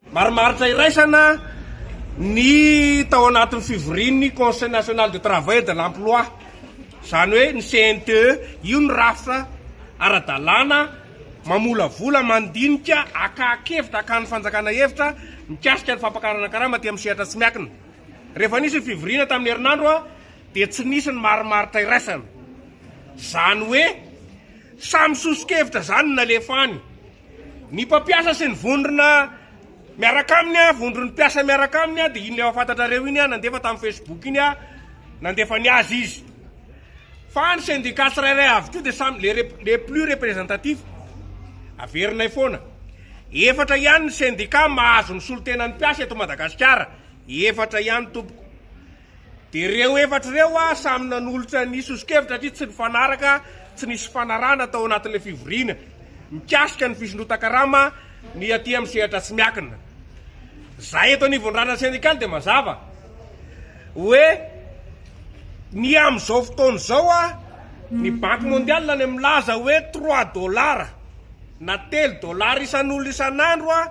Marimaritra iraisana ny tao anatin'ny fivorian'ny Conseil National de Travail et de l'Emploi, izany hoe ny CNTE, io ny rafitra ara-dalàna mamolavola, mandinika, akahan-kevitra, akahan'ny fanjakana hevitra mikasika ny fampakarana karama aty amin'ny sehatra tsy miankina. Rehefa nisy ny fivoriana tamin'ny herinandro dia tsy nisy ny marimaritra iraisana. Izany hoe samy soso-kevitra izany no nalefa any. Ny mpampiasa sy ny vondrona miaraka aminy a, vondron'ny mpiasa miaraka aminy a, dia iny efa fantatrareo iny a, nandefa tamin'ny Facebook iny a, nandefa ny azy izy. Fa ny syndicat tsirairay avy koa dia samy le, le plus representatif, averinay foana. Efatra ihany ny syndicat mahazo ny solotenan'ny mpiasa eto Madagasikara, efatra ihany tompoko. Dia ireo efatra ireo ah samy nanolotra ny sosokevitra satria tsy nifanaraka, tsy nisy fifanarahana tao anatin'ilay fivoriana mikasika ny fisondrotan-karama ny aty amin'ny sehatra tsy miankina. Izahay eto anivon'ny randrana sendikaly dia mazava hoe ny amin'izao fotoana izao ah ny banky mondiale any milaza hoe trois dollars na telo dollars isan'olona isan'andro ah,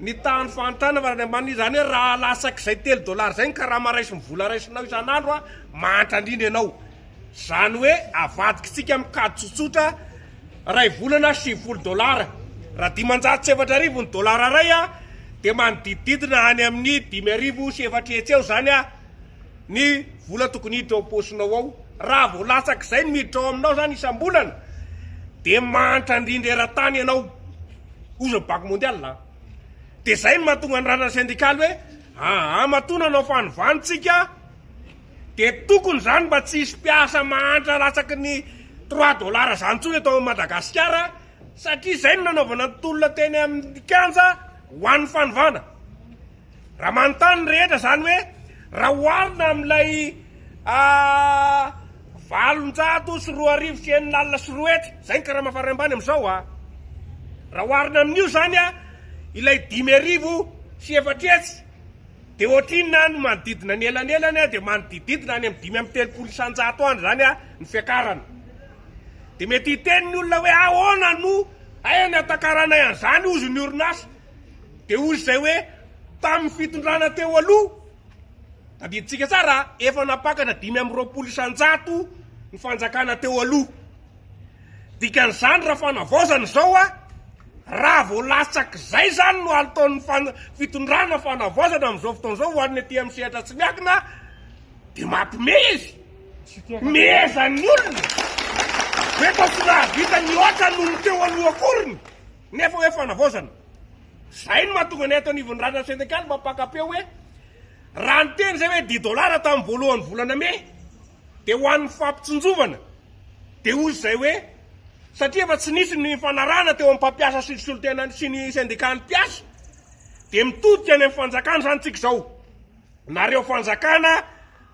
Nitaha ny fahantrana avy any ambany, izany hoe raha lasak'izay telo dollars izay ny karama raisin'ny vola raisinao isan'andro an, mahantra indrindra ianao. Izany hoe avadikitsika amin'ny kajy tsotsotra, iray volana sivifolo dollars. Raha dimanjato sy efatra arivo ny dollars iray an, dia manodidididina any amin'ny dimy arivo sy efatra hetsy eo izany an, ny vola tokony hiditra ao am-paosinao ao. Raha vao latsak'izay no miditra ao aminao izany isam-bolana, dia mahantra indrindra eran-tany ianao. ozy ny banque mondiale a dia izay no mahatonga ny ranana syndicale hoe aa matoa nanao fanovantsika dia tokony izany mba tsy hisy mpiasa mahantra latsaky ny trois dollars izany intsony eto Madagasikara satria izay no nanaovana ny tolona teny amin'ny kianja ho an'ny fanovana Raha manontany ny rehetra izany hoe raha oharina amin'ilay valonjato sy roa arivo sy enina alina sy roa hetsy, izay ny karama farany ambany amin'izao a, raha oharina amin'io izany ilay dimy arivo sy efatra hetsy dia ohatrinona any manodidina ny elanelany dia manodidididna any amin'ny dimy amby telopolo isanjato any izany ny fiakarana. Dia mety hiteny ny olona hoe ahoana no hay ny hatakaranay an'izany hozy ny orinasa? Dia hoy izay hoe tamin'ny fitondrana teo aloha, tadidintsika tsara a, efa nampakatra dimy amby roapolo isan-jato ny fanjakana teo aloha. Dikan'izany raha fanavaozana izao a, raha vao latsak'izay izany no ataon'ny fan- fitondrana fanavaozana amin'izao fotoana izao ho an'ny aty amin'ny sehatra tsy miankina dia mampimehy izy. Mihezan'ny olona hoe efa tsy nahavita nihoatra noho ny teo aloha akory ny. Nefa hoe fanavaozana. Zay no mahatonga ny ato anivon'ny Rana Senegal mba mpaka-peo hoe raha niteny zay hoe dix dollars tamin'ny voalohan'ny volana mey dia ho an'ny fampitsinjovana dia hoy zay hoe satria efa tsy nisy ny fanarahana teo amin'ny mpampiasa sy ny solontenany sy ny sendikany mpiasa dia mitodika any amin'ny fanjakana zany tsika zao. Nareo fanjakana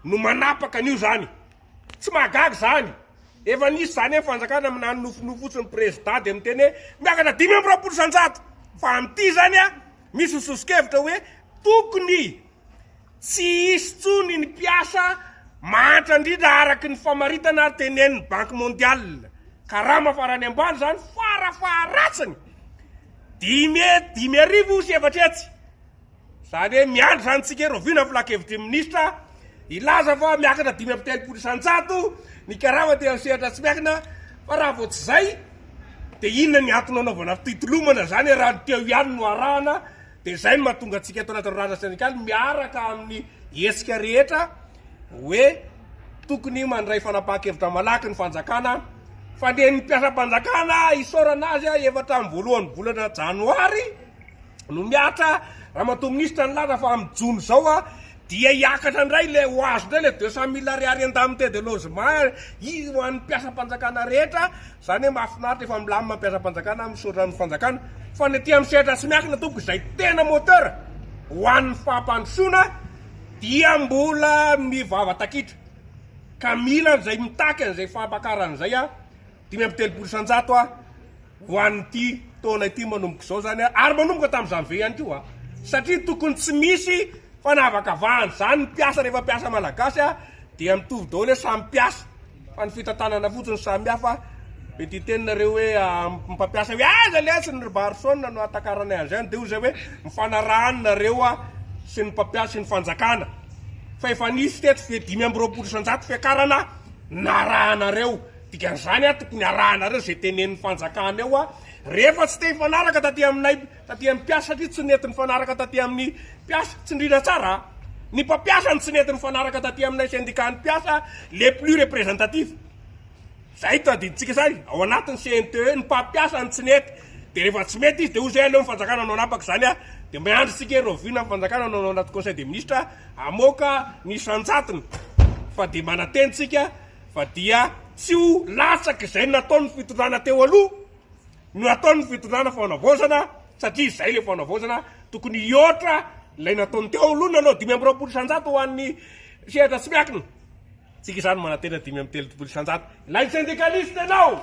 no manapaka an'io zany. Tsy mahagaga izany. Efa nisy izany amin'ny fanjakana amin'ny nano nofinofy fotsiny prezda dia miteny hoe miakatra dimy amby roapolo isanjato fa amin'ity izany a misy ny soso-kevitra hoe tokony tsy hisy tsony ny mpiasa mahantra indrindra araky ny famaritana ary tenenin'ny banky mondiale karama farany ambany izany fara faharatsiny dimy dimy arivo sy efatra hetsy. Izany hoe miandry izany isika hoe rahoviana ny filan-kevitry ny minisitra hilaza fa miakatra dimy amby telopolo isan-jato ny karama teo amin'ny sehatra tsy miankina fa raha vao tsy izay dia inona ny antony hanaovana fitolomana izany raha ny teo ihany no arahana dia izay no mahatonga antsika eto anaty rorana sendikaly miaraka amin'ny hetsika rehetra hoe tokony mandray fanapahan-kevitra malaky ny fanjakana fa ny an'ny mpiasam-panjakana isaorana azy efa hatramin'ny voalohan'ny volana janoary no mihatra Ramatoa Minisitra nilaza fa amin'ny jona izao dia hiakatra indray ilay ho azo indray ilay deux cent mille ariary indemnité de logement izy ho an'ny mpiasam-panjakana rehetra, izany hoe mahafinaritra efa milamina ny mpiasam-panjakana misaotra ny fanjakana fa ny aty amin'ny sehatra tsy miankina tompoko izay tena moteur ho an'ny fampandrosoana dia mbola mivavatakitra ka mila an'izay mitaky an'izay fampakarana izay aho. Dimy amby telopolo isan-jato a! ho an'ity taona ity manomboka izao zany a! ary manomboka tamin'ny janvier ihany koa a! satria tokony tsy misy fanavakavahana izany, ny mpiasa rehefa mpiasa malagasy a! dia mitovy daholo hoe samy mpiasa, fa ny fitantanana fotsiny no samy hafa, mety hiteny nareo hoe amin'ny mpampiasa hoe aiza letsy ny ry Barson no ahatakaranay an'izay any, dia hoy izay hoe mifanarahany nareo a! sy ny mpampiasa sy ny fanjakana, fa efa nisy teto fe dimy amby roapolo isan-jato fiakarana narahanareo, Dikan'izany aho tokony harahanareo izay tenenin'ny fanjakana eo aho rehefa tsy te hifanaraka taty aminay taty amin'ny mpiasa satria tsy nety nifanaraka taty amin'ny mpiasa, tsindriana tsara a! ny mpampiasa no tsy nety nifanaraka taty aminay sendikan'ny mpiasa les plus representatifs izay no tadidintsika izay ao anatin'ny CNTE ny mpampiasa no tsy nety dia rehefa tsy mety izy dia hoy izay aleo ny fanjakana hanao anapaka izany a! dia miandry isika ery rahoviana ny fanjakana no hanao anaty conseil des ministres hamoaka ny isan-jatony fa dia manantena isika Fa dia tsy ho latsaka izay nataon'ny fitondrana teo aloha no ataon'ny fitondrana fanavaozana satria izay ilay fanavaozana tokony hihoatra ilay nataony teo aloha nanao dimy amby roapolo isanjato ho an'ny sehatra tsy miakina. Tsika izany manantena dimy amby telopolo isanjato. Ilay syndicaliste ianao!